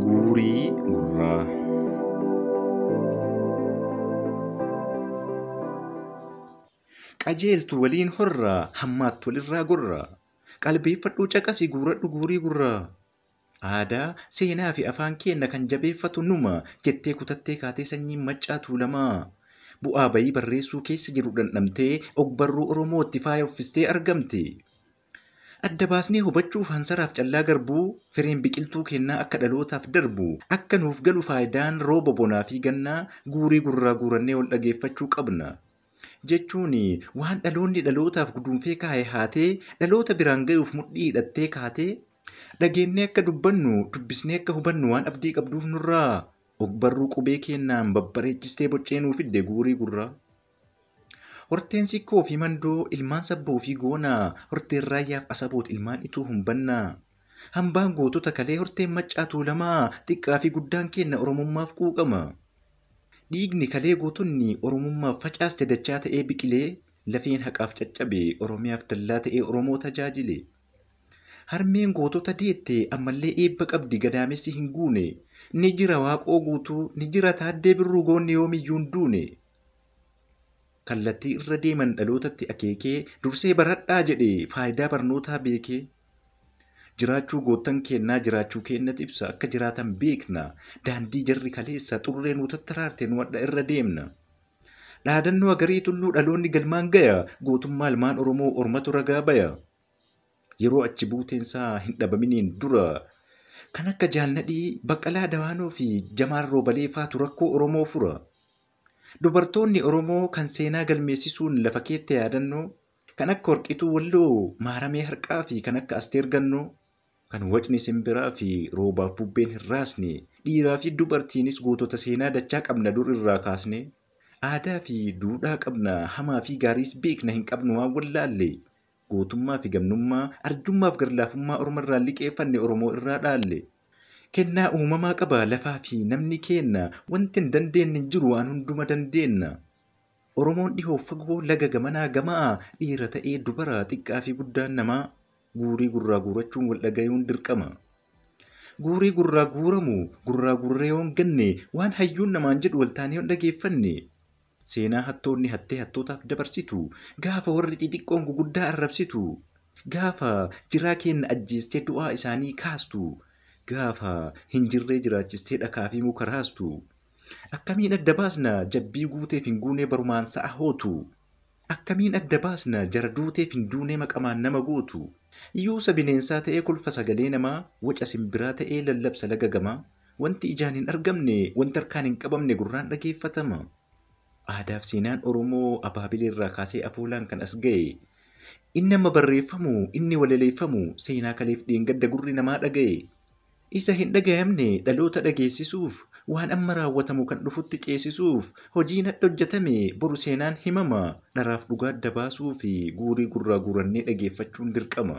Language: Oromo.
Guurii gurraa. Qajeeltu waliin horraa hammaattu walirraa gorraa. Qalbeeffadhuu caqasi guuradhu guurii gurraa. Aadaa, seenaa fi afaan keenna kan jabeeffatu numa jettee kutattee kaatee sanyiin maccaa tuulamaa. Bu'aa bayii barreessuu keessa jiru dhandhamtee ogbarruu Oromootti faaya uffistee argamte. Adda baasnee hubachuuf hansaraaf callaa garbuu, firiin biqiltuu keennaa akka dhalootaaf darbu, akka nuuf galu faayidaan rooba bonaa fi gannaa guurii gurraa guurannee wal dhageeffachuu qabna. Jechuun waan dhaloonni dhalootaaf guduunfee kaaye haatee dhaloota biraan gayuuf mudhii hidhattee kaate, dhageennee akka dubbannu, dubbisnee akka hubannu waan abdii qabduuf nurraa ogbarruu qubee keennaan babbareechistee boccee nuu fidde guurii gurraa. Horteen Sikkoo fi Mandoo ilmaan Sabboo fi Goonaa, Horteen Raayyaaf Asaboot ilmaan Ituu Humbannaa. Hambaan gootota kalee Horteen Maccaa Tuulamaa, xiqqaa fi guddaan keenna Oromummaaf quuqama. Dhiigni kalee gootonni Oromummaaf facaaste dachaa ta'ee biqile, lafeen haqaaf caccabe, Oromiyaaf dallaa ta'ee Oromoo tajaajile. Harmeen gootota deette ammallee eebba qabdi gadaamessi hin guune, ni jira Waaqoo Guutuu, ni jira Taaddee Birruu goonni yoomiyyuu hin duune. Kallattii irra deeman dhalootatti akeekee, dursee baradhaa jedhee faayidaa barnootaa beekee, jiraachuu goottan keennaa jiraachuu keennat ibsa, akka jiraatan beekna, daandii jarri kaleessa xurree nuu tattaraarte nu hadha irra deemna. Dhaadannoo Agarii Tulluu dhaloonni galmaan gaya, gootummaa ilmaan Oromoo ormatu ragaa baya. Yeroo achi buuteen isaa hin dhabaminiin dura kan akka Jaal Nadhii, Baqqalaa Dawaanoo fi Jamaal Roobalee faatu rakkoo Oromoo fura. Dubartoonni Oromoo kan seenaa galmeessisuun lafa keette yaadannoo kan akka Warqituu Walloo, Maaramee Harqaa fi kan akka Asteer Gannoo, kan wacni simbiraa fi roobaaf bubbeen hin raasne, dhiiraa fi dubartiinis gootota seenaa dachaa qabna dur irraa kaasnee. Aadaa fi duudhaa qabna, hamaa fi gaariis beekna hin qabnu waan wallaalle. Gootummaa fi gamnummaa, arjummaa fi garlaafummaa orma irraa liqeeffanne Oromoo irraa dhaalle. Kennaa uumamaa qaba lafaa fi namni keenna, wanti hin dandeenne hin jiru waan hunduma dandeenna. Oromoon dhihoo fi fagoo, laga gamanaa gama'aa, dhiira ta'ee dubara, xiqqaa fi guddaan namaa. Guurii gurraa guurachuun wal dhagayuun dirqama. Guurii gurraa guuramu, gurraa guurree yoo hin ganne, waan hayyuun namaan jedhu wal taanee yoo hin dhageeffanne, Seenaa hattoonni hattee hattootaaf dabarsitu, gaafa warri xixiqqoon guguddaa arrabsitu, gaafa jiraa keenna ajjeestee du'aa isaanii kaastu, gaafa hin jirree jiraachistee dhakaa fi muka raastu. Akkamiin adda baasna jabbii guuteef hin guunee barumaan sa'a hootu? Akkamiin adda baasna jara duuteef hin duunee maqamaan nama gootu? Yuusa bineensaa ta'ee kolfa sagalee namaa, waca simbiraa ta'ee lallabsa laga gamaa, Wanti ijaan hin argamne, wanti harkaan hin qabamne gurraan dhageeffatama. Aadaaf seenaan Oromoo Abaabileerraa kaasee afoolaan kan as ga'e. Inni amma barreeffamu, inni walaleeffamu seenaa kaleef dheengadda gurri namaa dhaga'e. Isa hin dhagayamne dhaloota dhageessisuuf, waan amma raawwatamu kan dhufutti ceesisuuf hojiin hadha hojjetame boru seenaan himama. Dharaaf dhugaa adda baasuuf guurii gurraa guurannee dhageeffachuun dirqama.